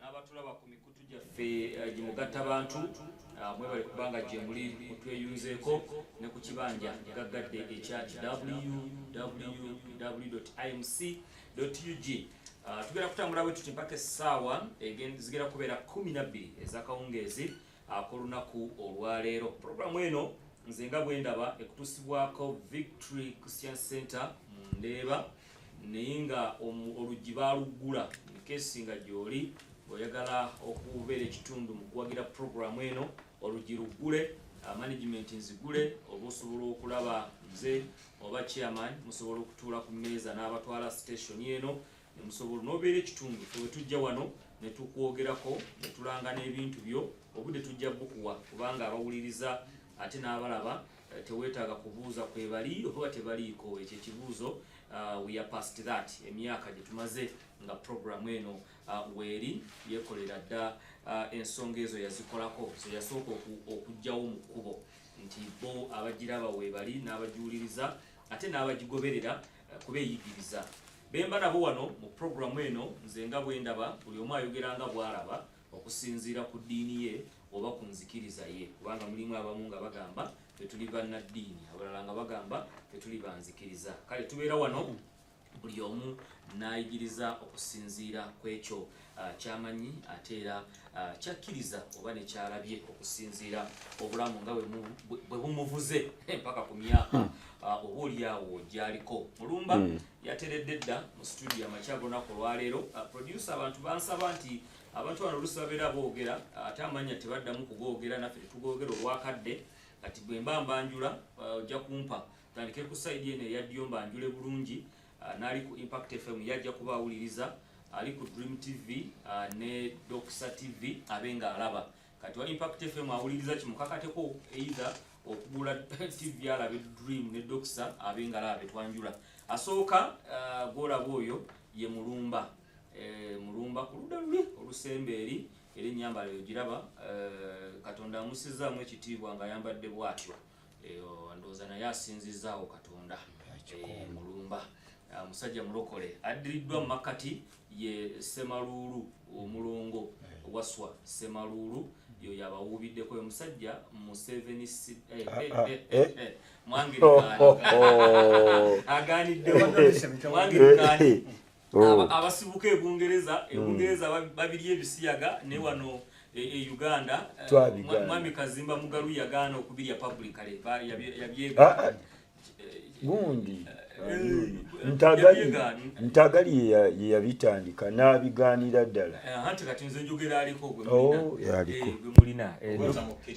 n'abatulaba ku mikutu gyaffe eh, gimugatta bantu ah, mwebale kubanga gyemuli mutweyunzeeko ne ku kibanja gaggadde ekya www imc ug ah, tugenda kutambula bwe tuti mpaka essaawa zigenda kubeera kumi nabbiri ezakawungeezi ah, ku lunaku olwaleero puroguramu eno nze nga bwendaba ekutuusibwako victory christian center mu ndeeba naye nga oluggi baaluggula nkesi nga gyoli oyagala okubeera ekitundu mu kuwagira puroguramu eno oluggi luggule uh, management nzigule oba osobola okulaba nze oba chairman musobola okutuula ku mmeeza n'abatwala station eno nemusobola nobeera ekitundu febe tujja wano netukwogerako netulanga n'ebintu byo obudde tujja bukuwa kubanga abawuliriza ate n'abalaba Eh, tewetaaga kubuuza kwebali oba tebaliiko ekyo ekibuuzo uh, we are past that emyaka gyetumaze nga program eno uh, weeri yekolera dda uh, ensonga ezo yazikolako zeyasooka okugyawo mu kkubo nti bo abagiraba webali n'abagiwuliriza ate n'abagigoberera kuba eyigiriza bemba nabo wano mu program eno nze nga bwendaba buli omu ayogera nga bwalaba okusinziira ku ddiini ye oba ku nzikiriza ye kubanga mulimu abamu nga bagamba fetuli bannaddiini abalala nga bagamba fetuli banzikiriza kale tubeera wano buli omu nayigiriza okusinziira ku ekyo uh, kyamanyi ate era uh, kyakkiriza oba nekyalabye okusinziira obulamu nga bwe bumuvuze mpaka ku myaka hmm. uh, oba olyawo gyaliko mulumba hmm. yateredde dda mu situdio amakyagonaku olwaleero producer abantu bansaba nti abantu bano olusi babeera boogera ate amanya tebaddamu kugoogera naffe tetugoogera olwakadde kati bwe mba mbanjula uh, ojja kumpa tandike ku saidi eno eyaddiyo mbanjule bulungi uh, naali ku impact fm yajja kuba awuliriza ali ku dream tv uh, ne doxa tv abe nga alaba kati wa impact fm awuliriza kimukakateko eitha okugula tv alabe dream ne doxa abe nga alaba betwanjula asooka golaba oyo ye mulumba Eh, mulumba ku ludda luli olusemba eri era ennyambala eyo giraba eh, katonda amusizzaamu ekitiibwa ng'ayambadde bwatyo eh, ndowooza naye asinzizzaawo katonda mulumba ah, musajja mulokole addiriddwa mu makkati ye semaluulu omulongo waswa semaluulu yo yabawuubiddeko oyo musajja museveni mwangirikaani aganiddewo mwangirikaani oh. abasibuka e Bungereza e hmm. Bungereza babiri ebisiyaga ne wano e, e Uganda eh, mwami Kazimba Mugalu yagaana okubirya publicly yabyega ah, ah. eh, gundi ntagali ntagali yeyabitandika n'abigaanira ddala eh, anti kati nze njogera aliko gwe mulina oh,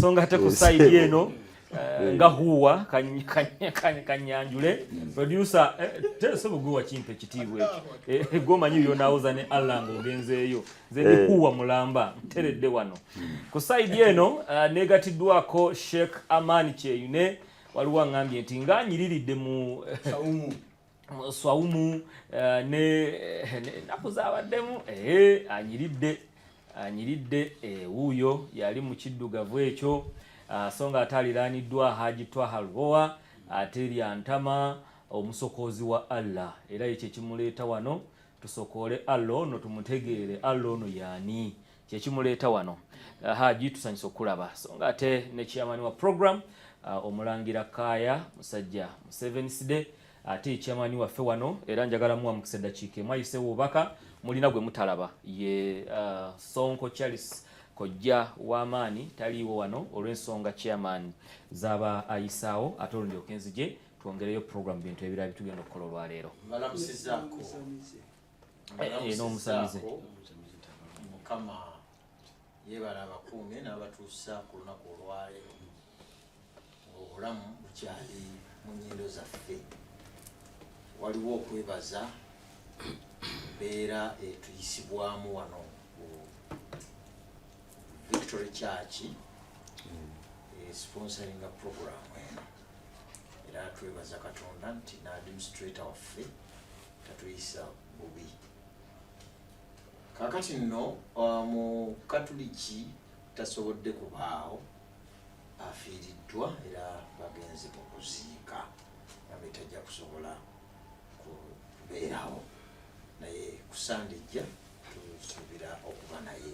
songa ate ku saidi eno eh, nga huwa kanyanjule producer eh, teso bugwe wakimpa ekitiibwa ekyo eh, gwomanyi yonawoza ne allah nga ogenzeeyo nze ndi huwa mulamba nteredde wano ku saidi eno negatiddwako sheikh amani kyeyune waliwo angambye nti nganyiriridde mu swawumu eh, ne naku zabaddemu eh, anyiridde anyiridde ewuuyo eh, yali mu kiddugavu ekyo ah, so nga ate aliraaniddwa haji twaha lubowa ate lyantama omusokoozi wa allah era ekyo ekimuleeta wano tusokoole allah ono tumutegeere allah ono yaani kyekimuleeta wano haji tusanyusa okukulaba so nga ate ne chairman wa program uh, omulangira kaaya musajja musevenisde ate chairman waffe wano era njagala muwa mukisa eddakiika emu ayise wubaka mulina gwe mutalaba ye uh, sonko charles kojja w'amaanyi taliiwo wano olw'ensonga chairman zaba ayisaawo ate olundi okenzije twongereyo program bintu ebirala bitugenda okukola olwaleero n'omusamize mukama yebala abakuume n'abatuusa ku lunaku olwaleero obulamu bukyali mu nyindo zaffe waliwo okwebaza mbeera etuyisibwamu wano ku victory church esponsoringa eh, program eno era twebaza katonda nti n'administrator waffe tatuyisa bubi kakati nno uh, mu katuliki tasobodde kubaawo afiiriddwa era bagenze mu kuziika nabe tajja kusobola kubeerawo naye kusande ejja tusuubira okuba naye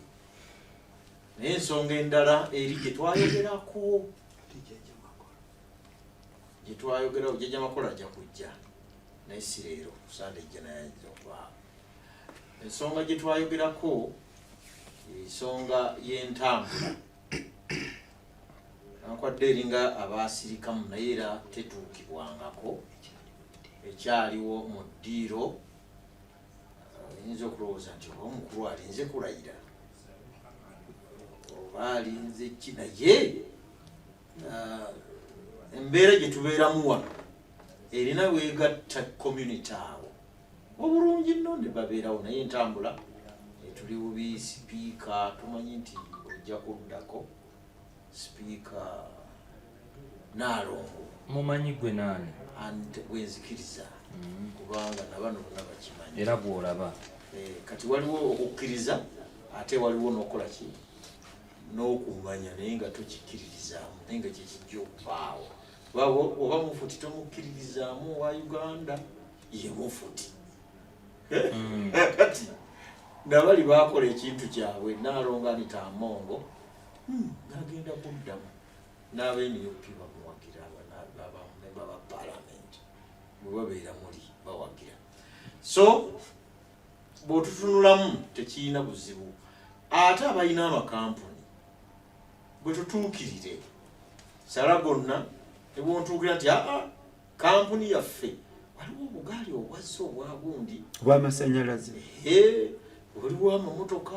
naye ensonga endala eri gyetwayogerako gyetwayogera ojeja makola ajja kujja naye si leero kusande ejja naye ayinza okwaa ensonga gyetwayogerako ensonga y'entambula ankwadde eringa abaasirikamu naye era tetuukibwangako ekyaliwo mu ddiiro oyinza okulowooza nti oba omukulu alinze kulayira oba alinze ki naye uh, embeera gye tubeeramu wano erina weegatta community awo obulungi nno ne babeerawo naye entambula etuli bubi sipiika tumanyi nti ojja kuddako sipiika naalongo mumanyi gwe naani gwenzikiriza mm. kubanga nabano bona bakimanyi era gwolaba eh, kati waliwo okukkiriza ate waliwo nokukola ki n'okumanya naye nga tokikkiririzaamu naye nga kyekijja okubaawo oba mufuti tomukkiririzaamu owa uganda ye mufuti hmm. kati nabali bakola ekintu kyabwe nalonganita amongo hmm, nagenda kuddamu n'abenup bamuwagira abamemba ba palamenti bwebabeera muli bawagira so bw'otutunulamu tekirina buzibu ate abalina amakampuni bwe tutuukirire sala gonna ne bwontuukira nti aa kampuni yaffe waliwo obugaali obwazza obwagundi bw'amasannyalaze waliwo amamotoka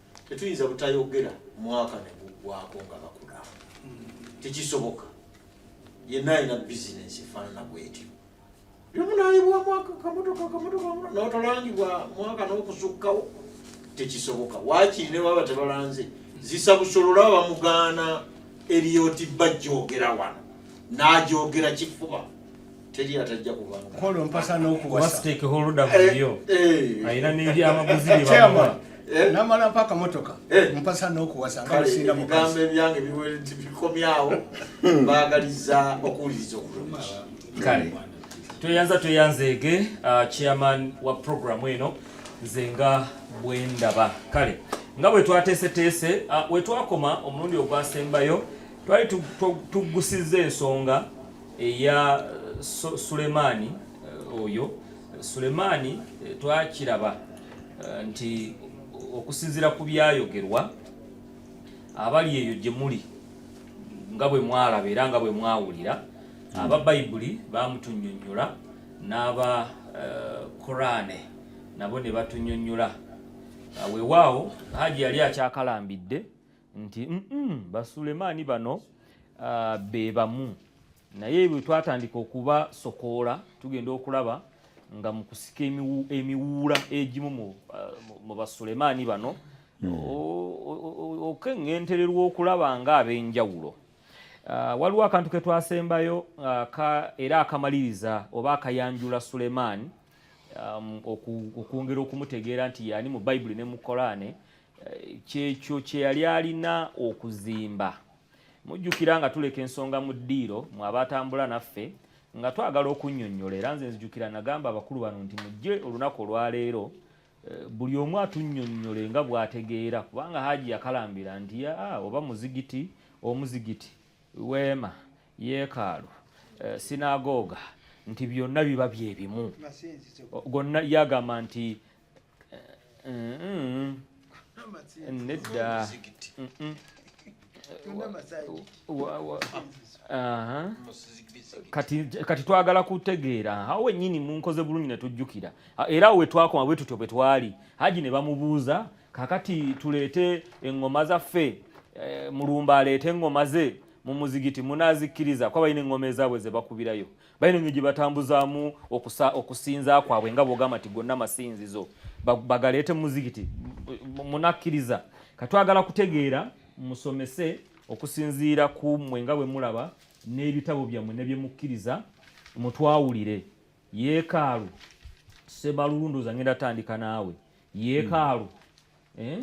tetuyinza butayogera mwaka neguggwako nga bakula tekisoboka yenna alina bizinensi efaanana bwetyo yomunayibwa mwaka kamotoka kamotoka notolangibwa mwaka nokusukkawo tekisoboka wakiri ne baba tebalanze zisa busolola bamugaana eriyoti bajjogera wano najogera kifuba teri atajja kubangakola mpasa n'okuwasitekeholda muyo alina n'ebyamaguzi byebamuwa namala mpa akamotoka mpasa n'okuwasa nga musinga mugambo ebyange bikomyawo baagaliza okuwuliriza okulungi kale tweyanza tweyanzeege chairman wa programu eno nze nga bwendaba kale nga bwe twateeseteese wetwakoma omulundi ogwasembayo twali tuggusizza ensonga eya Sulemaani oyo Sulemaani eh, twakiraba eh, nti okusinzira ku byayogerwa abali eyo gye muli nga bwe mwalaba era nga bwe mwawulira hmm. aba bayibuli bamutunyonyola n'aba eh, korane nabo ne batunyonyola wewaawo haji yali akyakalambidde nti mm -mm, basulemaani bano uh, be bamu naye bwe twatandika okubasokoola tugenda okulaba nga mu kusika emiwuula egimu mu uh, basulemaani bano hmm. okeŋŋentererwa okulaba nga ab'enjawulo uh, waliwo akantu ke twasembayo uh, era akamaliriza oba akayanjula sulemaani um, okwongera okumutegeera nti yaani mu bayibuli ne mu kolaane kyekyo kye yali alina okuzimba mujjukira nga tuleka ensonga mu ddiiro mwe abatambula naffe nga twagala okunnyonnyola era nze nzijukira nagamba abakulu bano nti mujje olunaku olwaleero eh, buli omu atunnyonnyole nga bwategeera kubanga haaji yakalambira nti aa oba muzigiti omuzigiti weema yeekaalu eh, sinagooga nti byonna biba byebimu gonna yagamba nti nedda kati kati twagala kutegeera awo wenyini munkoze bulungi ne tujjukira era awo wetwakoma bwe tutyo bwe twali haji ne bamubuuza kakati tuleete eŋŋoma zaffe eh, mulumba aleete eŋŋoma ze mu muzigiti munaazikkiriza kuba balina eŋŋoma ezaabwe ze bakubirayo balina nnyo gye batambuzaamu okusinza kwabwe nga bwogamba nti gonna masinzizo bagaleete mumuzikiti munakkiriza katwagala kutegeera musomese okusinziira ku mmwe nga bwe mulaba n'ebitabo byammwe ne bye mukkiriza mutwawulire yeekaalu sebalulundoza ngenda tandika naawe yeekaalu eh?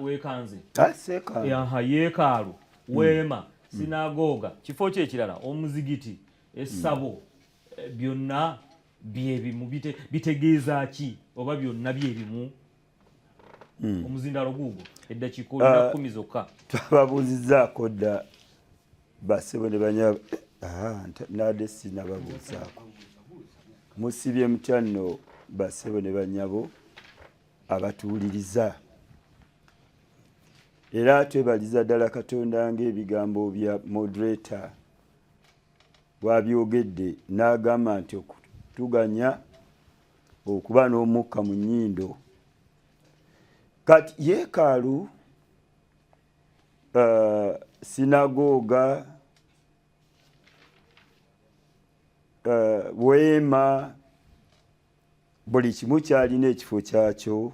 wekanze ah, yeekaalu hmm. weema hmm. sinagoga kifo ki ekirala omuzigiti essabo hmm. eh, byonna byebimu bitegeeza ki oba byonna byebimu omuzindalo guugo eddakiika olina ah, kumi zokka twababuuzizaako dda basebo ne banya ah, nade sinababuuzaako musibye mutya nno basebo ne banyabo abatuwuliriza era twebaliza ddala katonda ng'ebigambo bya moderator bwabyogedde n'agamba nti okutuganya okuba n'omukka mu nnyindo kati yeekaalu uh, sinagooga uh, weema buli kimu kyalina ekifo kyakyo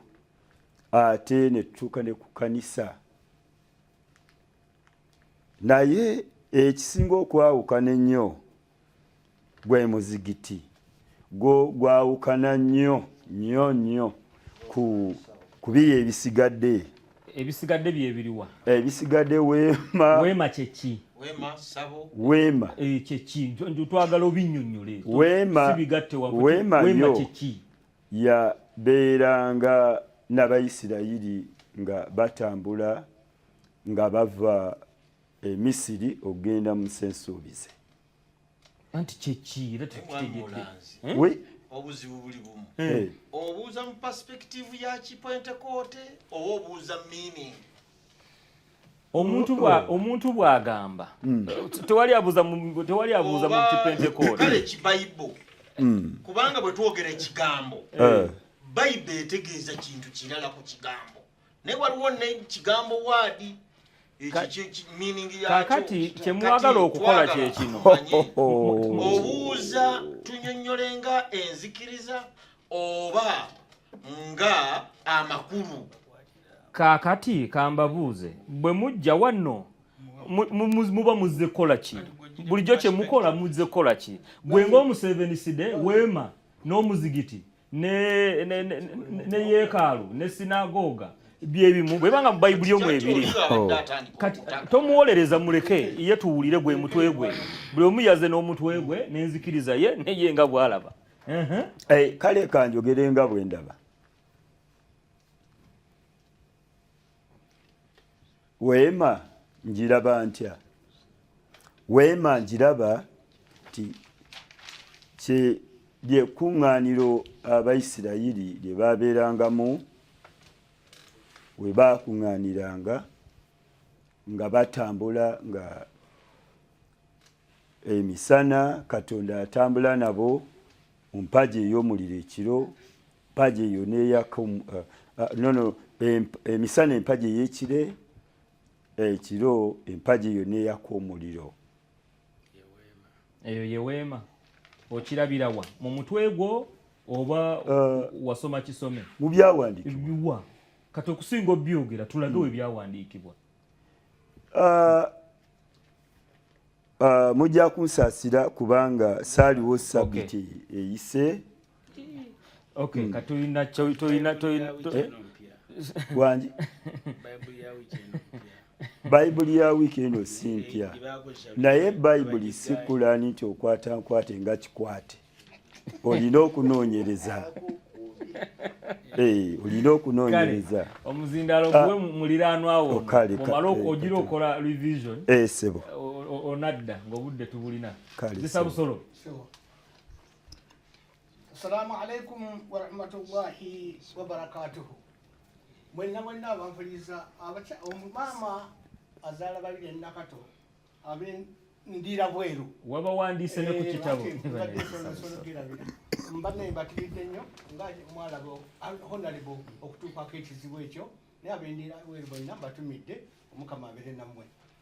ate netutuuka ne ku kanisa naye ekisinga okwawukana ennyo gwe muzigiti gwo gwawukana nnyo nnyo nnyo ku kubiyo ebisigadde ebisigadde byebiriwa ebisigadde weema weema kyeki weema sabo weema eh, kyeki twagala obinyonyole weema sibigatte wa weema weema kyeki ya beeranga n'abayisirayiri nga batambula nga bava emisiri okugenda mu nsi ensuubize anti kyeki era tekitegeke obuzibu buli bumu eh. obuuza mu perspective ya kipentekote oba obuuza meaning omuntu bwa oh. omuntu bwagamba hmm. tewali abuza mu tewali abuza mu kipentekote kale ki bible hmm. kubanga bwe twogera ekigambo eh. bible etegeeza kintu kirala ku kigambo naye waliwo ne kigambo waadi kakati kyemwagala okukola kyekino obuuza tunyonyole nga enzikiriza oba nga amakulu kakati kambabuuze bwe mujja wanno muba muzze kukola ki bulijjo kyemukola muzze kukola ki gwe ngaomuseveniside weema n'omuzigiti ne yeekaalu ne sinagooga byebimu bwebanga mu bayibuli omu ebiri oh. tomuwolereza muleke ye tuwulire gwe mutwe gwe buli omu yaze n'omutwe gwe n'enzikiriza ye neye nga bwalaba eh, kale kanjogere nga bwe ndaba Weema njiraba ntya? Weema njiraba nti kye lyekuŋŋaaniro Abayisirayiri lye baabeerangamu we baakuŋŋaaniranga nga batambula nga emisana katonda atambula nabo mu mpagi ey'omuliro ekiro mpaji eyo neyaka um, uh, uh, nono emisana empaji eyekire ekiro eh, empaji eyo neyaka omuliro eyo yeweema okirabirawa mu mutwe gwo oba uh, wasoma kisome mu byawandiikibwa kati okusinga obyogera tulage hmm. webyawandiikibwa mujja kunsaasira kubanga saaliwo sabiti eyise Okay, hmm. katulina tulina tulina eh? wangi bayibuli ya wiiki eno si mpya naye bayibuli si kulaani nti okwata nkwate nga kikwate olina okunoonyereza eh, olina okunoonyereza omuzindaalo ah. guwe muliraanwawo oh, omala eh, ogira okola revision eh, sebo onadda ng'obudde tubulina zisabusolo Assalamu alaikum warahmatullahi wabarakatuhu. Mwenna mwenna abampuliriza omumama azaala babiri ennakato abendira bweru waba wandiise ne ku eh, kitabo mbadde mbatiridde nnyo nga mwalaba honalebo okutuukako ekizibu ekyo naye abendira bweru bonna mbatumidde omukama abeere nammwe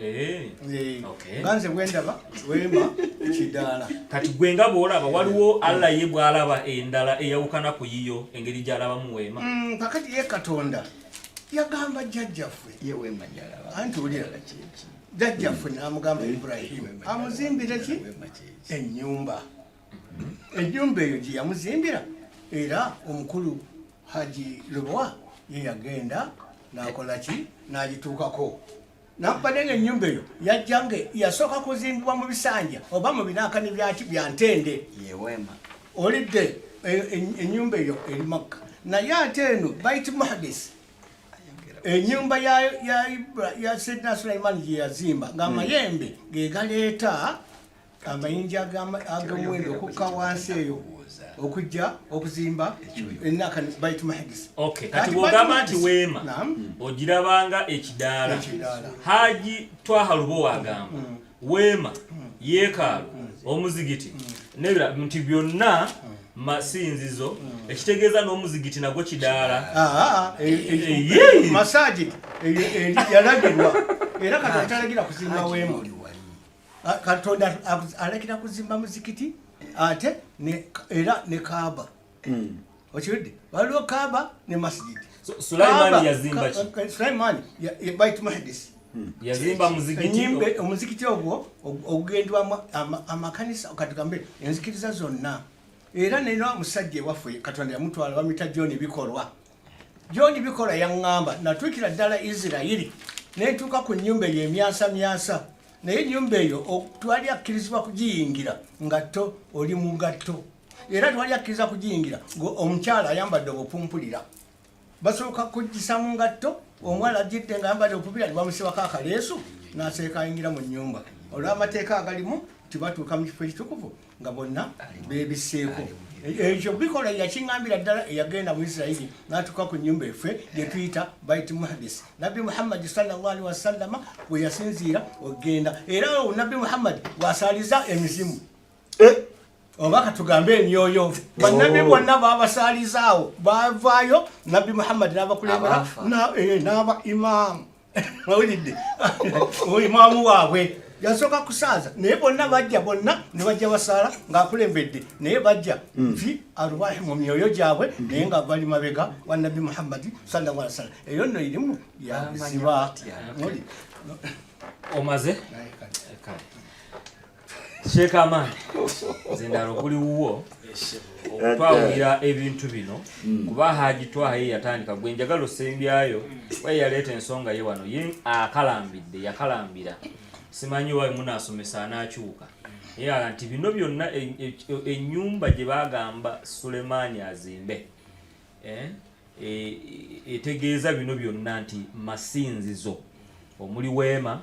Eh. Eh. ganze bwendaba wema kidaala kati gwe nga bwolaba waliwo allah ye bwalaba endala eyawukana ku yiyo engeri gyalabamu weema mm, kakati ye katonda yagamba jjajjaffe anti ulira jjajjaffe namugamba ibrahim amuzimbire ki enyumba mm-hmm. enyumba eyo gyeyamuzimbira era omukulu haji lubwa ye yagenda nakolaki nagituukako nampade ng'ennyumba eyo yajja nga yasooka kuzimbibwa mu bisanja oba mu binaakani byaki bya ntende olidde e, e, ennyumba eyo eri makka naye ate eno bait muhadis ennyumba ya sidna sulaimaani gye yazimba ng'amayembe mm. ge galeeta amayinja agamwendo okukka wansi eyo okujja okuzimba enaka baitu mahigisi kati bwogamba nti weema ogirabanga ekidaala haji twaha lubo wagamba mm. weema mm. yeekaalu mm. omuzigiti nebira nti byonna masinzizo hmm. ekitegeeza n'omuzigiti nagwo kidaala masagi yalagirwa era kati atalagira kuzimba weema Ah, katonda alekera kuzimba muzikiti ate era ne kaaba hmm. okiwudde waliwo kaaba ne masijidi sulaimani bait mahdis hmm. omuzikiti ogwo ogugendwamu amakanisa katugambe enzikiriza zonna era nera musajja ewaffe katonda yamutwala bamita john bikolwa John Bikola yaŋŋamba natuukira ddala Isirayiri ne ntuuka ku nnyumba eyo emyasamyasa naye ennyumba eyo twali akkirizibwa kugiyingira nga to oli mu ngatto era twali akkiriza kugiyingira ng'omukyala ayambadde obupumpulira basooka kugisa mu ngatto omuwala ajjidde nga ayambadde obupumpulira nebamusibako akaleesu n'aseeka ayingira mu nnyumba olw'amateeka agalimu tibatuuka mu kifo ekitukuvu nga bonna bebiseeko ekyo bikola yakiŋambira ddala eyagenda mu isirairi natuuka ku nyumba effe gyetuyita bait muhadis nabbi muhammadi salllahalihi wasallama bwe yasinziira okugenda era nabbi muhammadi wasaaliza emizimu eh? oba katugambe emyoyo bannabbi oh. bonna babasaalizaawo bavaayo nabbi muhammadi nabakulembera n'aba eh, imaamu mawulidde oyo mwamu waabwe yasooka kusaaza naye bonna bajja bonna ne bajja basaala ng'akulembedde naye bajja hmm. nti arwahi mu myoyo gyabwe hmm. naye nga bali mabega wa nabbi muhammadi sallallahu alaihi wasallam eyo nno irimu yaziba omaze Sheikh Amani zindalo kuli wuwo okwawulira ebintu bino mm. kuba Haji Twaha ye yatandika gwe njagala osembyayo we yaleeta ensonga ye wano ye akalambidde yakalambira simanyi wawe munasomesa anakyuka yala nti bino byonna ennyumba e, e, gye bagamba Sulemaani azimbe eh, e, etegeeza bino byonna nti masinzizo omuli weema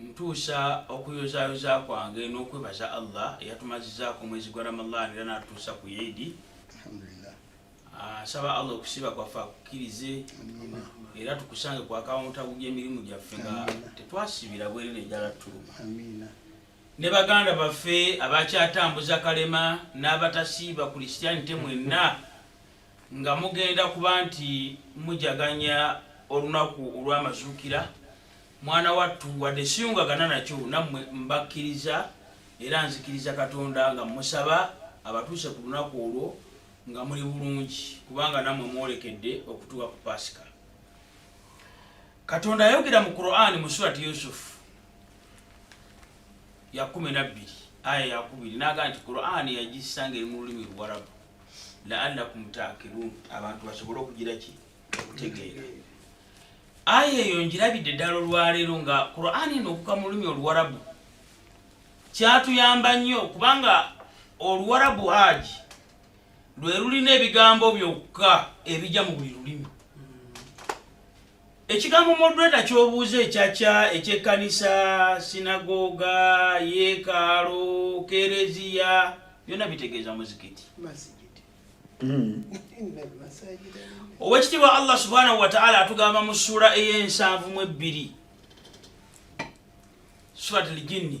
Ntuusa okuyozaayoza kwange n'okwebaza Allah eyatumazizaako omwezi gwa Ramallah era n'atutuusa ku Eid. Nsaba ah, Allah okusiiba kwaffe akukkirize era tukusange ku akawuntabu gy'emirimu gyaffe nga tetwasibira bwerere ejala tuluma ne baganda baffe abakyatambuza kalema n'abatasiiba kulisitianite mwenna Nga mugenda kuba nti mujaganya olunaku olw'amazuukira, mwana wattu, wadde siyungagana nakyo nammwe, mbakkiriza era nzikiriza Katonda nga mmusaba abatuuse ku lunaku olwo nga muli bulungi, kubanga nammwe mwolekedde okutuuka ku Paasika. Katonda ayogera mu Kuraani mu Surati Yusufu ya kumi na bbiri aya ya kubiri n'agamba nti Kuraani yagissa ng'eri mu lulimi Luwarabu. laalakum taakirun abantu basobole okugira ki okutegeera aya eyo njirabidde ddala olwaleero nga qurani eno okuka mu lulimi oluwarabu kyatuyamba nnyo kubanga oluwarabu haji lwe lulina ebigambo byokka ebijja mu buli lulimi Ekigambo moderator ky'obuuza ekyakya eky'ekkanisa, sinagoga, yeekaalo, kereziya byonna bitegeeza muzikiti. Hmm. Owekitiibwa Allah subhanahu wataala atugamba mu ssuula ey'ensanvu mu ebbiri surat al jinni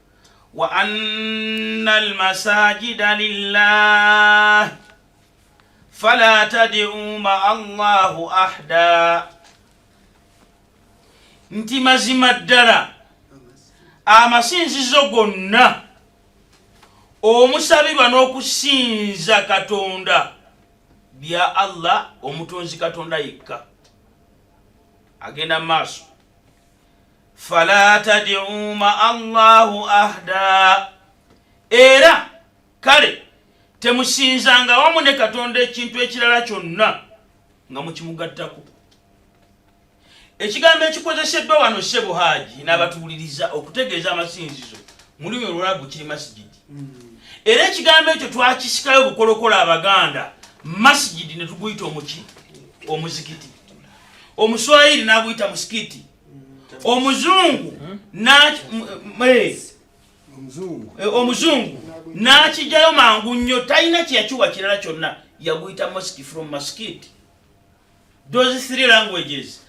wa anna almasajida lillah fala tad'u ma Allahu ahda, nti mazima ddala amasinzizo gonna omusabirwa n'okusinza katonda bya allah omutonzi katonda yekka agenda mu maaso fala tadiu ma allahu ahda era kale temusinzanga wamu ne katonda ekintu ekirala kyonna nga mukimugattako ekigambo ekikozeseddwa wano sebo haaji n'abatuwuliriza okutegeeza amasinzizo mu lulimi olwalabu kiri masigidi hmm. era ekigambo ekyo twakisikayo obukolokola abaganda masigidi ne tuguyita omuki omuzikiti omuswayiri n'aguyita musikiti omuzungu omuzungu n'akijjayo mangu nnyo talina kyeyakiwa kirala kyonna yaguyita mosque from maskit those three languages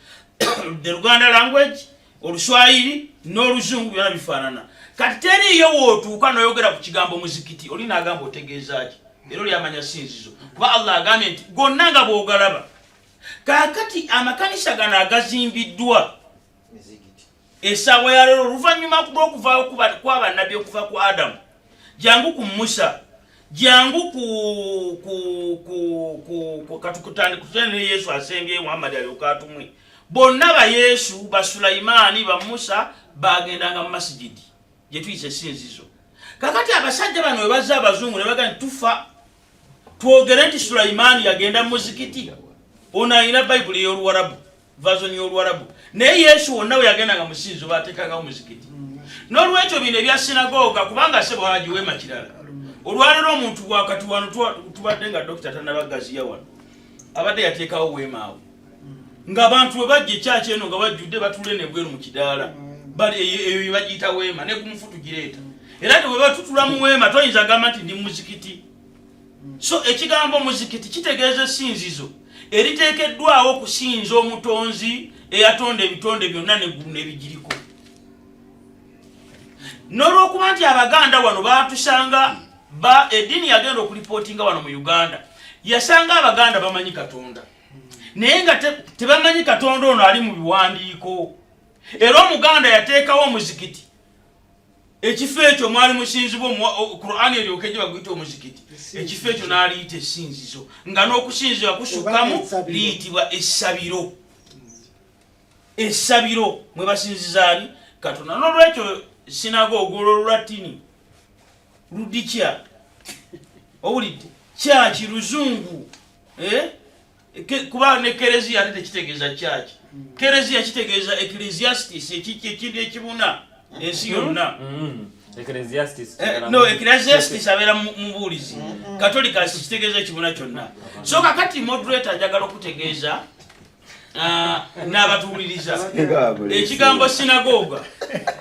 the luganda language oluswayiri n'oluzungu byona bifaanana kati teriiyo wootuuka noyogera ku kigambo muzikiti oli naagamba otegeeza ki era olyamanya sinzizo kuba allah agambye nti gonna nga bwogalaba kaakati amakanisa gano agazimbiddwa esaawa yaleero oluvannyuma lw'okuvaawo kwabannabbi okuva ku adamu jangu ku musa jangu katukutandikutene ne yesu asembye muhammadi aliokatumwe bonna ba yesu ba sulaimaani ba musa bagendanga mu masigidi gyetuyisa esinzizo kakati abasajja bano webaza abazungu nebaga nti tufa twogere nti sulaimaani yagenda mu muzikiti ono alina bayibuli ey'oluwarabu vazoni y'oluwarabu naye yesu wonna we yagendanga musinzo baateekangawo muzikiti n'olwekyo bino ebya sinagoga kubanga sebo haji weema kirala olwalero omuntu wakati wano tubadde nga dokita tanabagaziya wano abadde yateekawo weemaawo nga abantu bwe bajja ekyaki eno nga bajjudde batule nebweru mu kidaala eyo yebagiyita weema ne kumufu tugireeta era nti bwe batutula mu weema toyinza gamba nti ndi muzikiti so ekigambo muzikiti kitegeeza esinzizo eriteekeddwawo okusinza omutonzi eyatonda ebitonde byonna neggulu nebigiriko n'olwokuba nti abaganda wano baatusanga ba eddiini yagenda okulipootinga wano mu uganda yasanga abaganda bamanyi katonda naye nga tebamanyi katonda ono ali mu biwandiiko era omuganda yateekawo omuzikiti ekifo ekyo mwali musinzibwa qurani eryoke gye baguyita omuzikiti ekifo ekyo n'aliyita esinzizo nga n'okusinzibwa kusukkamu liyitibwa essabiro essabiro mwe basinzizaani katonda n'olwekyo sinaga ogwolwo lulatini ludikya owulidde kyaki luzungu eh? kuba ne kereziya ate tekitegeeza kyaki kereziya kitegeeza ecclesiastis ekindi ekibuna ensi yonna mm-hmm. ecclesiastis eh, eh, abeera mubuulizi mm-hmm. katolika kitegeeza ekibuna kyonna so kakati moderator ajagala okutegeeza Ah, n'abatuwuliriza ekigambo sinagoga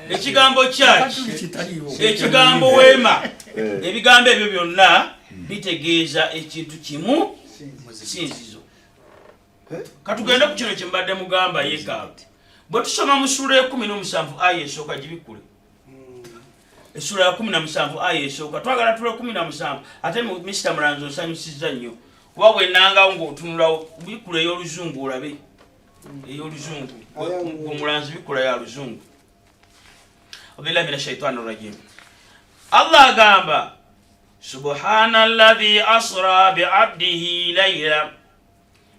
ekigambo church ekigambo weema eh. ebigambo ebyo byonna bitegeeza ekintu kimu sinzizo eh? katugende ku kino kyembadde mugamba yekaalu bwe tusoma mu suula ekumi n'omusanvu aya esooka gibikkule essula ya kumi na musanvu aya esooka twagala tula kumi na musanvu ate misita mulanzi osanyusiza nnyo kuba wenangawo ngaotunula bikula ey'oluzungu olabe ey'oluzungu omulanzi bikula ya luzungu abillahi min ashaitani rajim allah agamba subhana ladhi asra biabdihi laila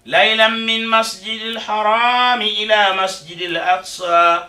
laila min masjidi lharami ila masjidi laksa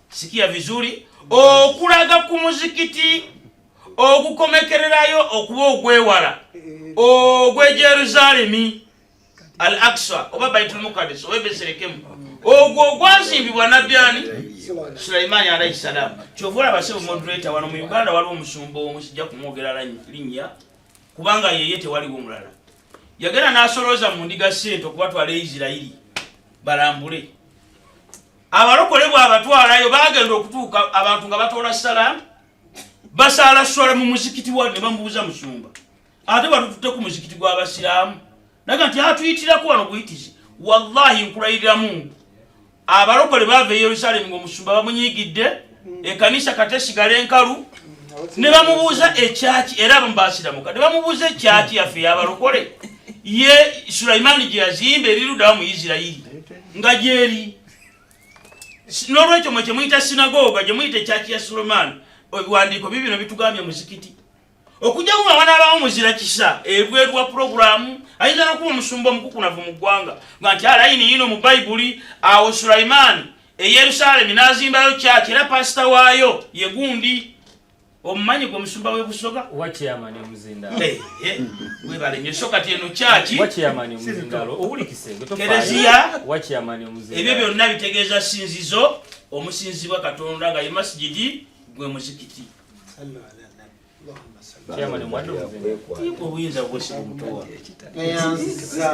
sikia vizuri okulaga ku muzikiti ogukomekererayo okuba ogwewala ogwe jerusaalemi al aksa oba baitulmukadis oba ebeserekemu ogwo ogwazimbibwa nabbi ani sulaimaani alaihi salaamu kyova olaba sebo moderator wano mu uganda waliwo omusumba omu sijja kumwogera linnya kubanga yeye tewaliwo omulala yagenda n'asolooza mu ndiga sente okubatwala e isirairi balambule abalokole bwabatwalayo bagenda okutuuka abantu nga batoola salamu basaala swala mu muzikiti wa ne bamubuuza musumba ate batututte ku muzikiti gw'abasiraamu naga nti atuyitirako wano buyitizi wallahi nkulayiriramu abalokole baava e yerusalemu ngaomusumba bamunyigidde ekanisa katesigala enkalu ne bamubuuza ekyaki era abamu basiramuka ne bamubuuza ekyaki yaffe yabalokole ye sulaimaani gye yazimba erirudawa mu isirairi nga gyeri n'olwekyo mwe kyemuyita sinagoga gyemuyita ekyaki ya sulaimaani ebiwandiiko bibino bitugambye muzikiti okujja kuba wanaabawo muzira kisa ebweru wa pulogulaamu ayinza nokuba omusumba omukukunavu mu ggwanga nga nti alayini yino mu bayibuli awo sulaimaani e yerusalemi n'azimbayo kyaki era pasita waayo ye gundi omumanyi gwe musumba webusoga webalenyo so kati eno kyaki kereziya ebyo byonna bitegeeza sinzizo omusinzibwa katonda nga ye masigidi gwe muzikiti obuyinza bwesiba omutuwa neyanziza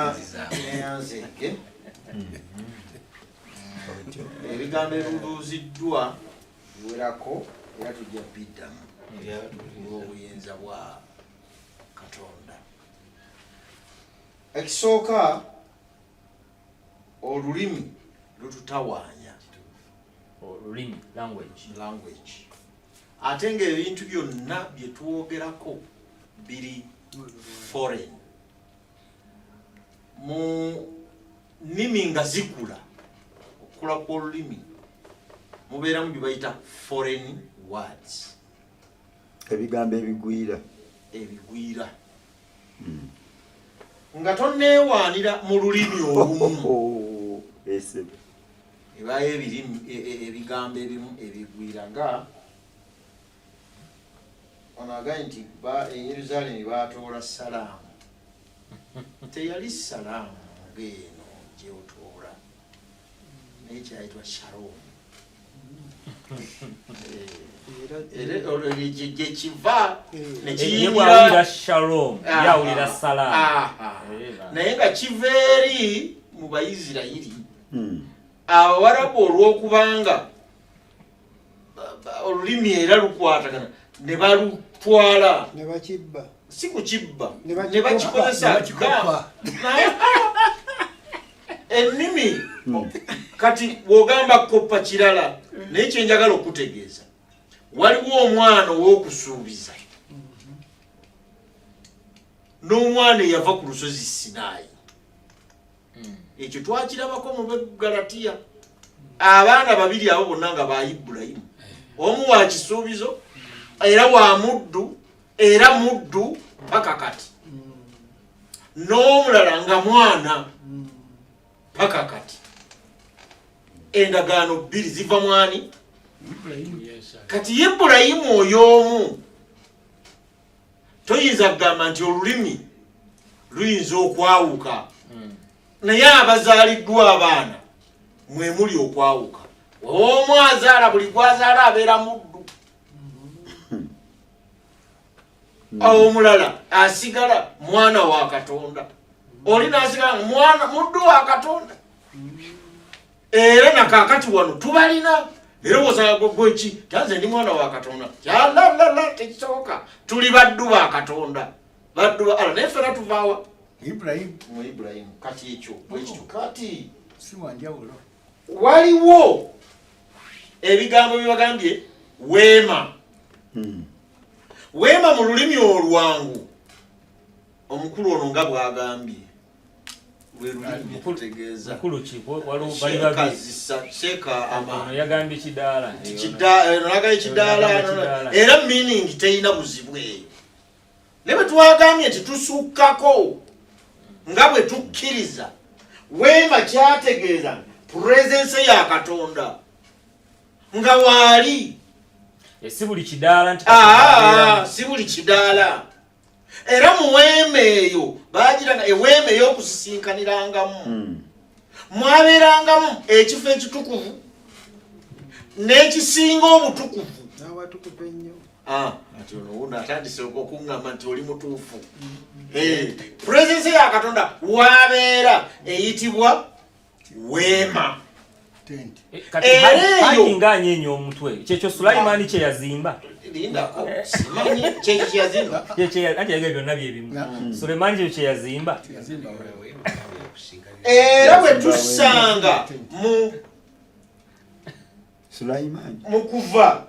neyanzenge ebigambo ebibuuziddwa werako era tujja biddamu obuyinza bwa katonda ekisooka olulimi lututawaanya olulimi language language ate nga ebintu byonna bye twogerako biri foreign mu nnimi nga zikula okukula kw'olulimi mubeeramu bye bayita foreign words ebigambo ebigwira ebigwira hmm. nga tonneewaanira mu lulimi olumu oh, oh, oh, ebayo ebirimu e, e, ebigambo ebimu ebigwira nga ono agaye nti eyerusalemi batoola salaamu teyali salaamu ngeeno gyotoola naye kyayitwa sharon gyekiva nekiyingira shalom yawulira sala naye nga kiva eri mu bayisirayiri hmm. abawarabu olw'okubanga olulimi era lukwatagana ne balutwala ne bakibba si kukibba ne bakikozesa ennimi hmm. kati wogamba koppa kirala naye kyenjagala okutegeeza waliwo omwana ow'okusuubiza n'omwana eyava ku lusozi sinaayi hmm. ekyo twakirabako mu begalatiya abaana babiri abo bonna nga ba ibulayimu eh. omu wa kisuubizo hmm. era wa muddu era muddu paka kati hmm. n'omulala nga mwana paka kati endagaano bbiri ziva mwani kati ibulayimu oyo omu toyinza kugamba nti olulimi luyinza okwawuka hmm. naye abazaaliddwa abaana mwe muli okwawuka omu azaala buli gwazaala abeera muddu hmm. awo omulala asigala mwana wa katonda oli nasigala mwana muddu wa katonda hmm. era nakakati wano tubalina nerowooza gweki tanze ndi mwana wa katonda yalalala tekisoboka tuli baddu ba katonda baddu ba ala naye fena tuvaawa ibrahimu mu ibrahimu kati ekyo bwekityo kati si wanjawulo waliwo ebigambo byebagambye weema hmm. weema mu lulimi olwangu omukulu ono nga bwagambye yagambye kidaala era meaning terina buzibu eyo naye bwetwagambye nti tusukkako nga bwe tukkiriza weema kyategeeza puresense ya katonda nga waali eh, si buli kidaala nti ah, si buli kidaala era mu weema eyo baagiranga eweema ey'okusisinkanirangamu hmm. mwabeerangamu ekifo ekitukuvu n'ekisinga obutukuvu n'awatukuvu ennyo ah, ati ono wuno atandise okuŋŋamba nti oli mutuufu hmm. eh, purezensi ya katonda wabeera eyitibwa weema eh, ereeyoingaanye enyo omutwe kyekyo sulaimani kyeyazimba lindako eh. simanyi kyekyo kyeyazimba anti yagala byonna byebimu mm. sulemani kyekyo kyeyazimba era bwe tusanga mu Sulaiman mukuva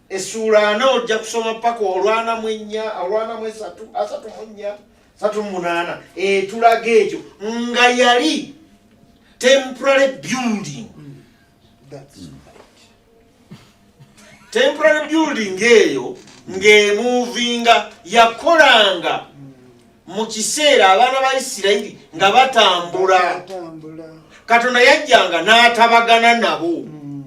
esura ana ojja kusoma paka olwana mwenya olwana mwesatu asatu mwenya satu munana etulaga ekyo nga yali temporary building temporary building eyo ng'emuvinga yakolanga mu kiseera abaana ba isirayiri nga batambula katonda yajjanga n'atabagana nabo hmm.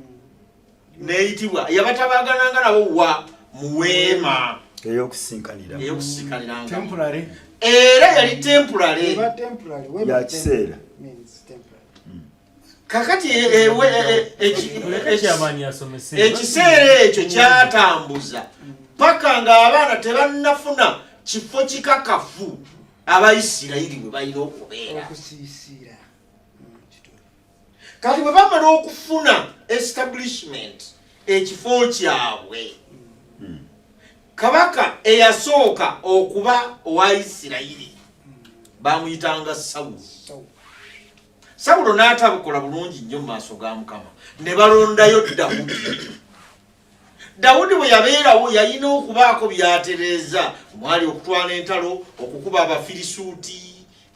neyitibwa yabatabagananga nabo wa muweema eyokusinkanirangaera yali tempurale kakati ekiseera ekyo kyatambuza paka ng'abaana tebannafuna kifo kikakafu abaisirayiri bwe balina okubeera kati bwe bamala okufuna establishment ekifo kyabwe hmm. kabaka eyasooka okuba owa isirayiri bamuyitanga sawuli sawulo n'atabukola bulungi nnyo mu maaso ga mukama ne balondayo dawudi dawudi bwe yabeerawo yalina okubaako byatereeza omwali okutwala entalo okukuba abafirisuuti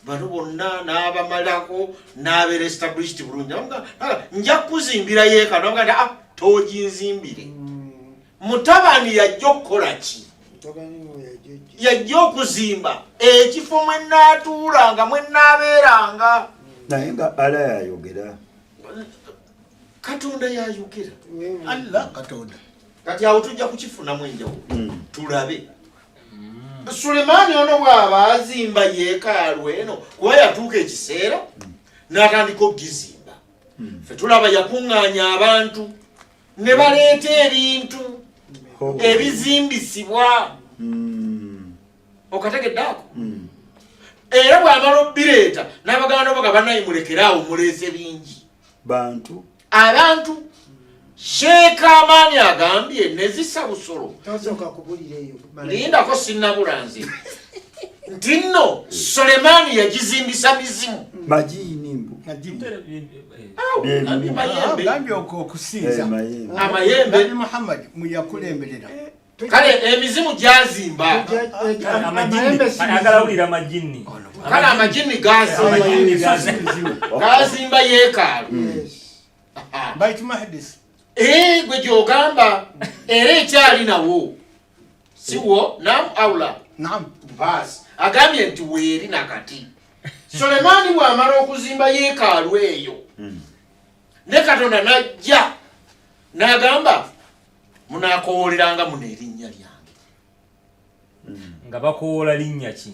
bano bonna n'abamalako n'abeera established bulungi nja kuzimbira yeekano nga ah, toginzimbire mm. mutabani yajja okukola ki yajja okuzimba ekifo mwe naatuulanga mwe naabeeranga naye nga ala yayogera katonda yayogera alla katonda kati awo tujja kukifunamu enjawulo hmm. tulabe hmm. sulemaani ono bw'aba azimba yeekaalu eno kuba yatuuka ekiseera hmm. n'atandika okugizimba fe tulaba yakuŋŋaanya abantu ne baleeta ebintu oh. ebizimbisibwa hmm. okategedde ako hmm. era bwamala obireeta n'abaganda boga banaye mulekere awo muleese bingi bantu abantu sheeka amaani agambye nezisa busolo lindako sinabula nze nti nno sulemaani yagizimbisa mizimu gambye okusinza amayembe nabi muhammad muyakulemberera kale emizimu gyazimba kale amajinni gazimba yekaalo gwe gyogamba era ekyali nawo siwo nam aula nam bas agambye nti weeri nakati sulemaani bw'amala okuzimba yeekaalu eyo hmm. ne katonda n'ajja n'agamba munaakowoleranga muno erinnya lyange hmm. nga bakowoola linnya ki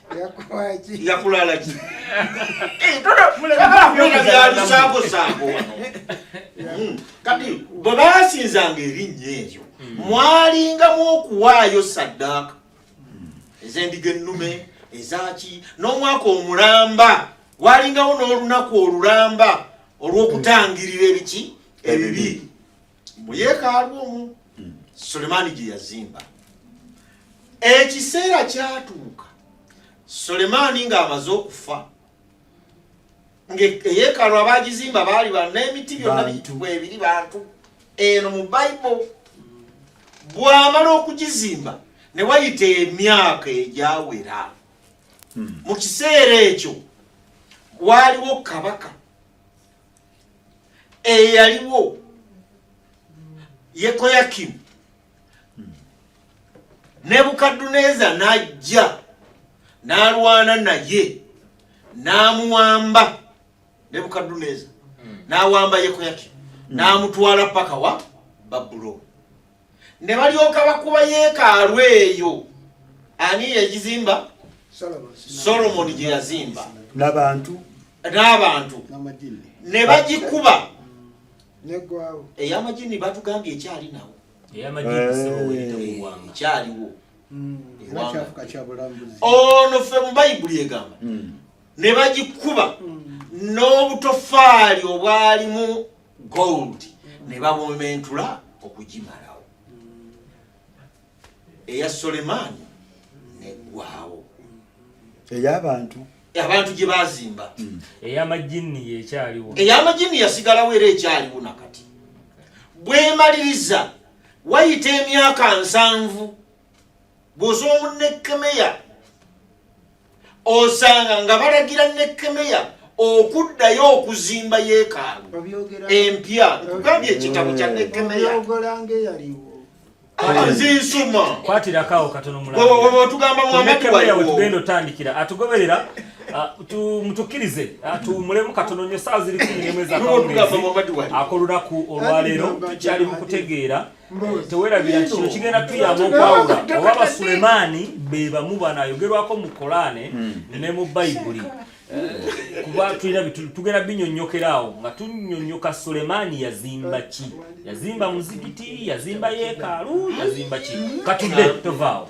yakulala ki byalisangosango wano hmm. kati bwe basinzanga erinnya eryo hmm. mwalingamu okuwaayo saddaaka ez'endiga ennume ezaki n'omwaka omulamba walingawo n'olunaku olulamba olw'okutangirira ebiki ebibi mu yeekaalu omu hmm. sulemaani gye yazimba ekiseera kyatuuka sulemaani ng'amaze okufa eyeekaalu abagizimba baali ba n'emiti byonna bibiri bantu eno mu bible bwamala okugizimba ne wayita emyaka egyawera hmm. mu kiseera ekyo waaliwo kabaka eyaliwo eh, yekoyakimu nebukadduneeza n'ajja n'alwana naye n'amuwamba nebukadduneeza hmm. n'awamba yekoyakimu n'amutwala paka wa babulooni ne balyoka bakuba yeekaalu eyo ani yagizimba solomoni gye yazimba n'abantu n'abantu ne bagikuba ey'amajini batugambye ekyali nawo ekyaliwo hmm, ono ffe mu bayibuli egamba hmm. ne bagikuba hmm. n'obutofaali obwalimu gold ne babomentula okugimalawo eya sulemaani neggwawo ey'abantu abantu gye baazimba hmm. ey'amajinni yekyaliwo ey'amajinni yasigalawo era ekyaliwo nakati bwemaliriza wayita emyaka nsanvu bw'oza omunekkemeya osanga nga balagira nekemeya okuddayo okuzimba yeekaalu empya kugambye ekitabo kya nekemeya nzinsuma kwatirakawo katonootugamba mwamatuwatugenda otandikira atugoberera mutukirize tuwumulemu katono nyo saa ziri kumi nemwezi akawungeezi akolunaku olwaleero tukyali mu kutegeera Eh, tewerabira kino kigenda tuyamba okwawula oba basulemaani be bamu banayogerwako mu kolaane hmm. ne mu bayibuli eh, kuba tulina tugenda binyonyokera awo nga tunyonyoka sulemaani yazimba ki yazimba muzigiti yazimba yeekaalu yazimba ki katudde tovaawo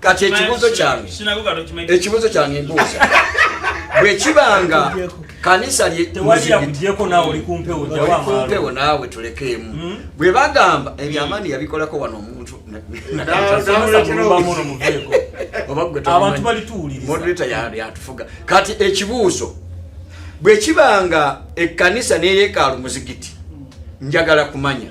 kati ekibuuzo kyange ekibuuzo kyange mbuuza bwekibanga kanisa lyekumpewompewo naawe tulekeemu hmm? bwe bagamba ebyamaani yabikolako wano omuntu moderator yatufuga kati ekibuuzo bwekibanga ekkanisa neyekaalu muzigiti njagala kumanya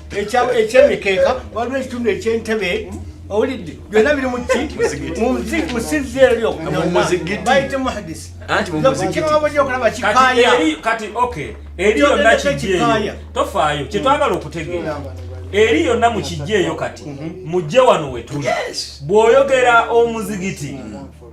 ekyemikeeka waliwo ekitundu ekyentebe owulidde byonna biri mumusizzi era lyokubayite muhadisi okulaba kikaaya kati ok eri yonna kijjeeyo tofaayo kyetwagala okutegeera eri yonna mu kijjeeyo kati mujje wano wetuli bw'oyogera omuzigiti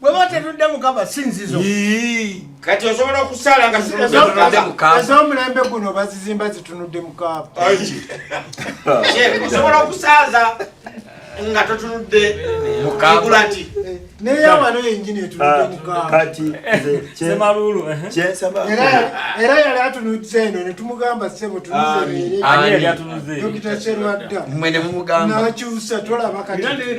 bwe ba tetudde mukaba si nzizo kati osobola okusaala nga ez'omulembe guno bazizimba zitunudde mukaaba osobola okusaaza nga totunudde mukulati naye awano yenyini etunudde ah, mukaaba era yali atunudde eno netumugamba sebo tunuzeredokita kyerwadda nakyusa tolaba katinze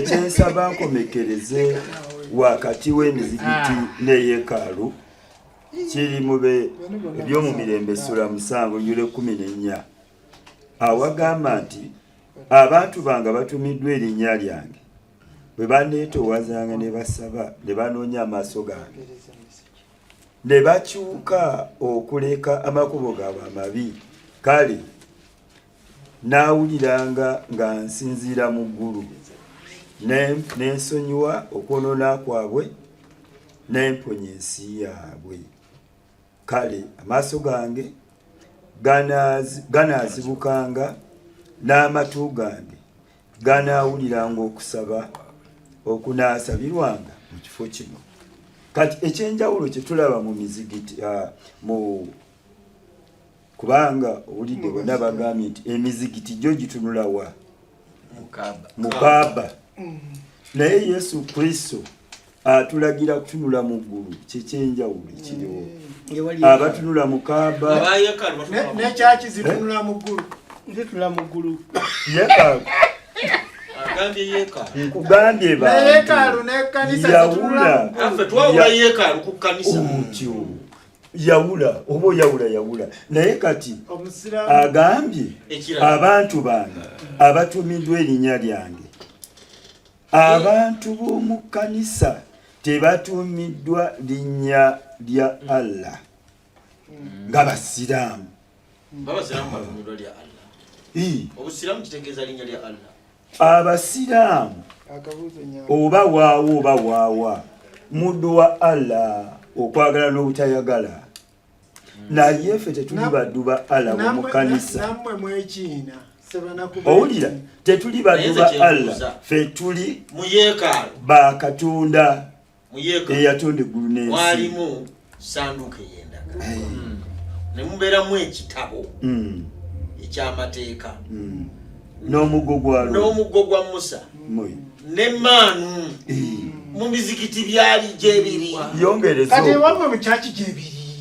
kyensaba nkomekereze wakati w'emizigiti ah. n'eyekaalu kiri mube ebyomumirembe sula musango yule kumi nenya awagamba nti abantu bange batumiddwa erinnya lyange bwe baneetowazanga ne basaba ne banoonya amaaso gange ne bakyuka okuleka amakubo gaabwe amabi kale naawuliranga nga nsinziira mu ggulu nensonyiwa okwonoona kwabwe nemponya ensi yaabwe kale amaaso gange ganaazibukanga n'amatu gange ganaawuliranga okusaba okunaasabirwanga mu kifo kino kati ekyenjawulo kyetulaba mu mizigiti ah, mu kubanga owulidde bonna bagambye nti emizigiti gyo gitunulawa mukaaba mm. naye yesu kristo atulagira kutunula mu ggulu kyekyenjawulo ekiriwo mm. abatunula mukaaba nekyaki zitunula mu ggulu zitunula mu ggulu nkugambye bantuyawula otyo yawula oba oyawula yawula naye kati agambye abantu bange abatumiddwa erinnya lyange abantu b'omu kkanisa tebatumiddwa linnya lya allah hmm. nga basiraamu abasiraamu oba waawo oba waawa muddu wa allah okwagala n'obutayagala naye ffe tetuli baddu ba allah mu kanisa owulira tetuli baddu ba allah ffe tuli ba katonda eyatunda eggulu n'ensi mwalimu sanduuko ey'endagaano hmm. ne mubeeramu ekitabo hmm. eky'amateeka hmm. n'omuggo gwa n'omuggo gwa musa n'emmaanu mu mizikiti byali gyebiri yongerezo kati ewamwe mu kyaki gyebiri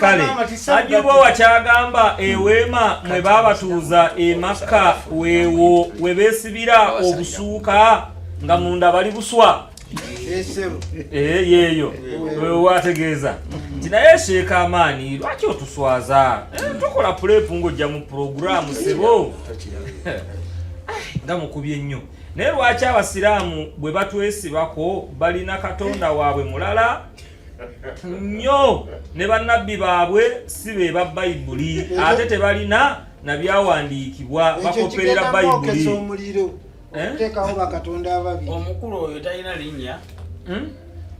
kale ajibwa wakyagamba eweema mwe babatuuza emakka weewo we beesibira obusuuka nga munda bali buswa eh, yeeyo wewo ategeeza nti naye sheeka amaani lwaki otuswaza eh, tukola pulepu ng'ojja mu puroguramu sebo nga mukubye nnyo naye lwaki abasiraamu bwe batwesibako balina katonda waabwe mulala nnyo ne bannabbi baabwe si be ba bayibuli ate tebalina na byawandiikibwa bakoperera bayibuli eh? omukulu oyo talina linnya hmm?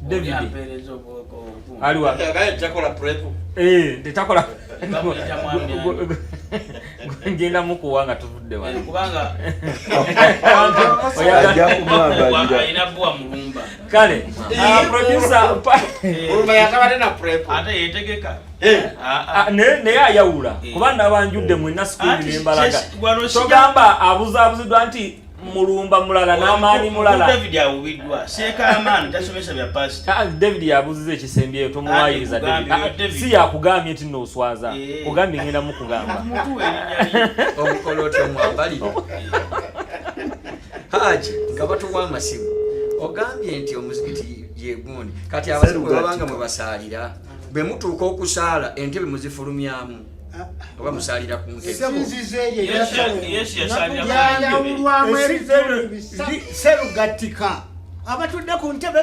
david aliwa eh, tetakola ngenda mukuwa nga tuvudde wano eh, kubanga Kale. Ah, producer pa. Urumba yakabade na prep. Ate yetegeka. Eh. Ah, ah. ah ne ne ayawula. Eh. Kuba nabanjudde mu na school ne mbalaga. Togamba abuza abuzidwa nti mulumba mulala n'amaanyi mulala david awubiddwa seeka amaani tasomesa bya pasita ah, david yabuziza ekisembyeyo tomuwayiriza si yakugambye nti noswaza eh. kugambye ngenda mukugamba haji nga batuwa amasimu ogambye nti omuzikiti yegundi kati abazimu bwebabanga mwebasaalira bwe mutuuka okusaala entebe muzifulumyamu oba musalira ku ntebeyaawulwamu ebizibu bisaserugattika abatudde ku ntebe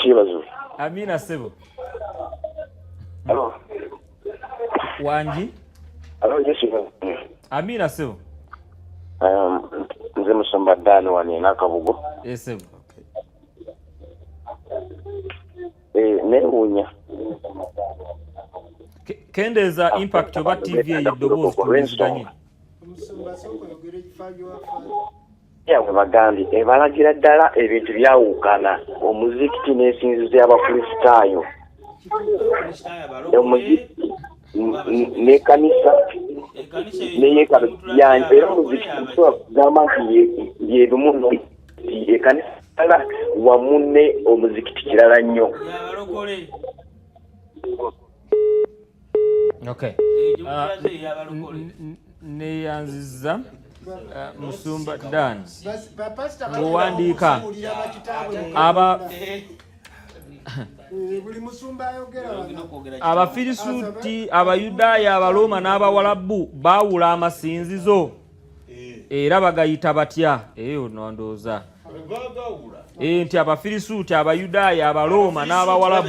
kyebaziwe amina sebo wangi amina sebo um, nze musumba dani wani nakabugo esebo eh, newunya kendeeza impact oba tv eyo eddoboozi tuwuliziganye we bagambye ebalagira ddala ebintu byawukana omuzikiti n'ensinzizo y'abakristaayo omuzikiti n'ekanisa neyekanisa era omuzikiti tusobola kugamba nti yebimu ekanisa ala wamu ne omuzikiti kirala nnyo neyanziza eh, musumba dan owandiika aba abafirisuuti abayudaaya abalooma n'abawalabu baawula amasinzizo era bagayita batya eyo nondooza nti abafirisuuti abayudaaya abalooma n'abawalabu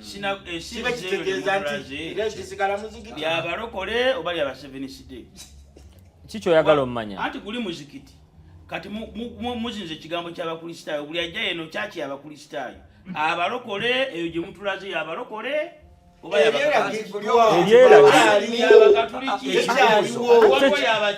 kitegeezayabalokole eh, oba lyabaseveniside kikyoyagala omumanya anti guli muzikiti kati muzinza ekigambo kyabakristaayo buli ajja yeno kyaki yabakristaayo abalokole eyo gye mutulaze yabalokole oba yabagatuliki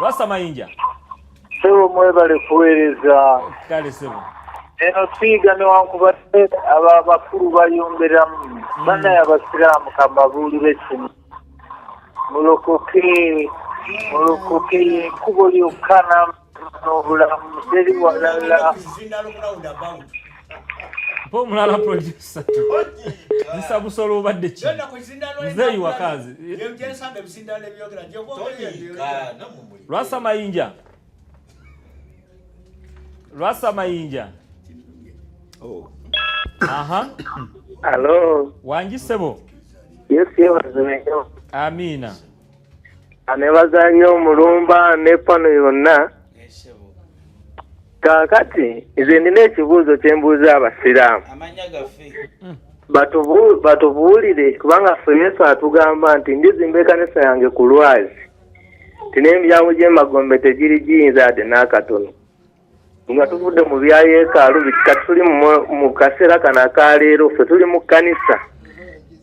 Rasta Mayinja. Sebo mwebale kuweereza. Kale sebo. Eno siiga newankubadde abo abakulu bayomberamu mm. banaye abasiraamu kambabuulire kino mulokoke mulokoke yekubo lyokka n'obulamu teri walala pomulala producer nsa busolo obadde ki muzeeyi wakazi lwasa mayinja lwasa mayinja oh. aha alo wangi sebo yesiyebazimenyo amiina anebaza nyo omulumba nepano yonna kaakati nze nina ekibuuzo kye mbuuza abasiraamu batubuulire kubanga ffe yesu atugamba nti ndizimba ekanisa yange ku lwazi nti n'emiryango gy'emagombe tegiri giyinza yadde n'akatono nga tuvudde mu bya yeekaalu bikika tuli mu kaseera kano aka leero ffe tuli mu kkanisa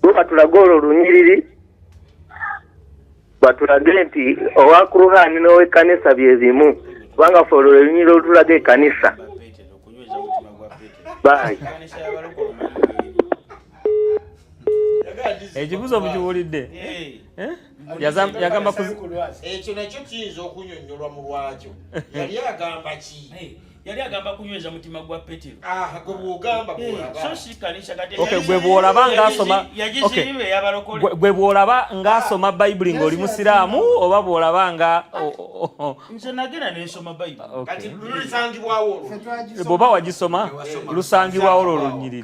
tuba tulage olwo lunyiriri batulage nti owa kuruhani n'owekkanisa bye bimu kubanga fe olwo lwelunyira olutulaga ekkanisa bayi ekibuzo mukiwulidde eh? Eh? yagamba ekyo nakyo kiyinza okunyonyolwa mu lwakyo yali agamba ki yali agamba kunyweza mutima gwa petero ah, eh, gwe bwolaba ngaasoma gwe bwolaba ngaasoma bayibuli ng'oli musiraamu oba bwolaba nga bwoba wagisoma lusangibwawo lwo lunyiriri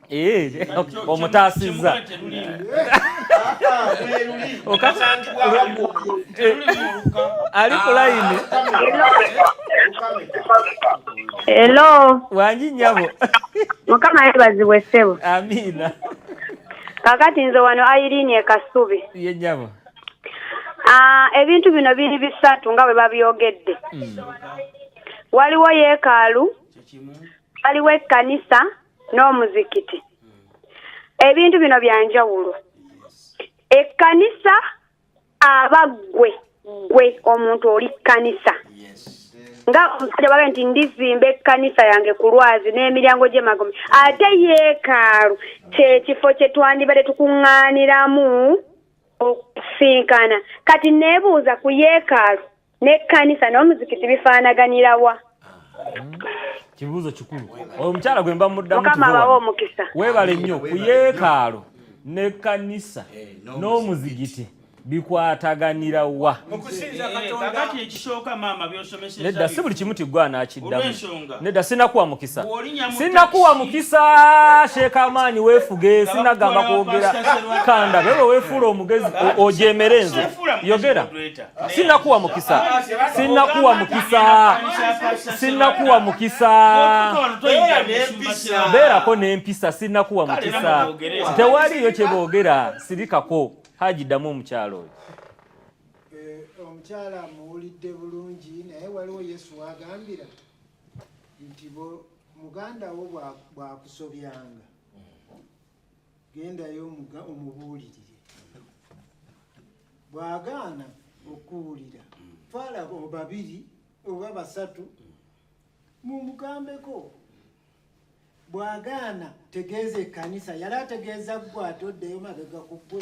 Eh, omutaasizza ali ku layini elo wangi nyabo mukama yebazibwe ssebo amiina kakati nze wano ayirini ekasubi ye nyabo ah, ebintu bino biri bisatu nga bwe babyogedde hmm. waliwo yeekaalu waliwo ekkanisa n'omuzikiti ebintu bino byanjawulo ekkanisa aba ggwe ggwe omuntu oli kkanisa nga omusajja bagae nti ndizimba ekkanisa yange ku lwazi n'emiryango gy'emagome ate yeekaalu kyekifo kye twandibadde tukuŋŋaaniramu okusinkana kati neebuuza ku yeekaalu n'ekkanisa n'omuzikiti bifaanaganira wa kibuuzo kikulu oyo omukyala gwe mba muddamuomukisa weebale nnyo ku yeekaalo n'ekkanisa eh, n'omuzigiti bikwataganira wa nedda si buli kimu tigwe anaakiddamu nedda sinakuwa mukisa sinakuwa mukisa sheekamaanyi weefuge sinagamba kwogera kanda bebe weefuula omugezi ojeemere nze yogera sinakuwa mukisa sinakuwa mukisa sinakuwa mukisa beerako n'empisa sinakuwa mukisa tewaliyo kye boogera sirikako haji ddamu omukyalo oyo eh, omukyala muwulidde bulungi naye waliwo yesu wagambira nti muganda wo bwakusobyanga gendayo omuga omubuulirire bwagaana okuwulira twala babiri oba basatu mumugambeko bwagaana tegeeza ekanisa yali ategeeza ggwe ate oddeyo mabega ku ggwe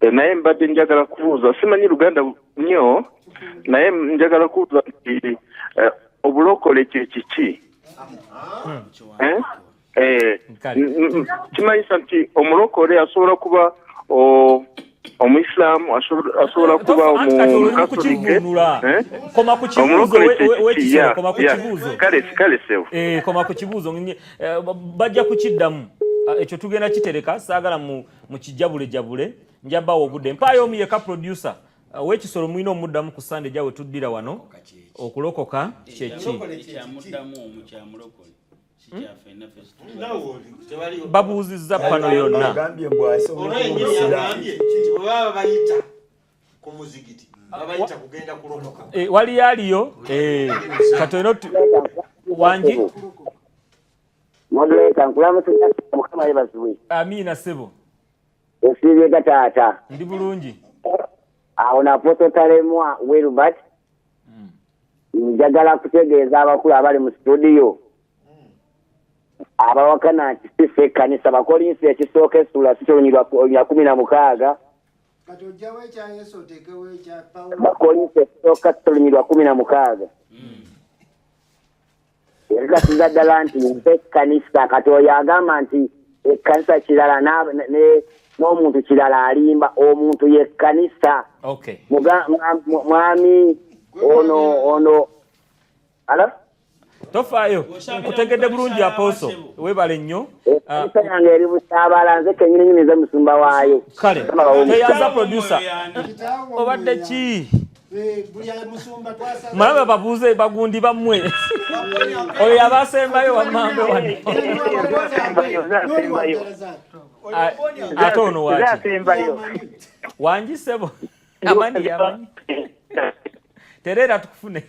Eh, naye mbadde njagala kubuuza simanyi luganda nnyo naye njagala kubuuza nti eh, obulokole kye kiki eh? Eh, kimanyisa nti omulokole asobola kuba omuisiramu asobola kuba omukatolikeomulokole sewo koma ku kibuuzo bajja kukiddamu ah, ekyo tugenda kitereka saagala mu mukijabule jabule njaba obude mpaye omu yeka producer uh, wekisoro mwino omuddamu ku sande jawe tuddira wano okulokoka kyeki hmm? babuuzizza pano yonna eh, waliyo aliyo eh, katono wangi modulator nkulamusiza mukama yebaziwe amiina sebo osiibye ga taata ndi bulungi awo naposo talemwa wilbert hmm. njagala kutegeeza abakulu abali mu situdiyo abawakana nti sisi ekkanisa bakolinsi ekisooka esula sikyolunya kumi na mukaaga bakolinsi ekisooka sikyolunyirwa kumi na mukaaga hmm. yagasiza ddala nti nze ekkanisa kati oyo agamba nti ekkanisa kirala n'omuntu kirala alimba omuntu yekkanisa mwami ono ono ala tofaayo nkutegedde bulungi apooso webale nnyo ekkanisa ah, yange eri busaabala nze kenyini nyini ze musumba waayo kale toyanza producer obadde ki Eh, malaba babuuze bagundi bammwe oyo yabasembayo wammambe wano ate ono waki wangi sebo amani yamanyi tereera tufune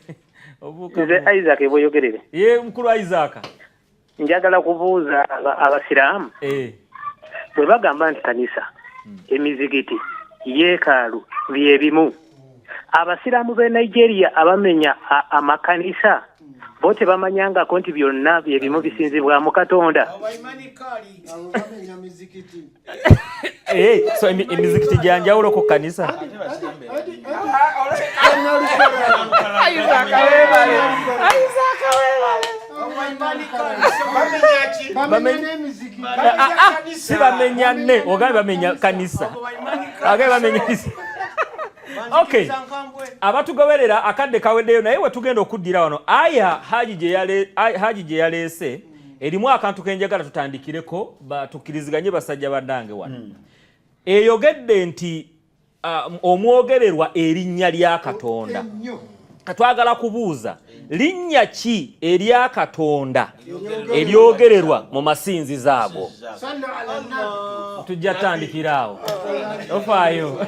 nze isaac bweyogerere ye mukulu isaac njagala kubuuza abasiraamu eh. bwe bagamba nti kanisa hmm. emizigiti yeekaalu bye bimu abasiraamu b'e nigeria abamenya amakanisa bo tebamanyangako nti byonna bye bimu bisinzibwamu katonda Eh, so emizikiti gya njawulo ku kanisa si bamenya ne ogambe bamenya kanisa agambe bamenya kanisa okay abatugoberera akadde kaweddeyo naye wetugenda okuddira wano aya haji gye yaleese erimu akantu kenjagala tutandikireko tukiriziganye basajja bandange wano hmm. eyogedde nti um, omwogererwa erinnya lya katonda katwagala kubuuza linnya ki erya katonda eryogererwa mu masinzi zaago tujja tandikiraawo tofaayo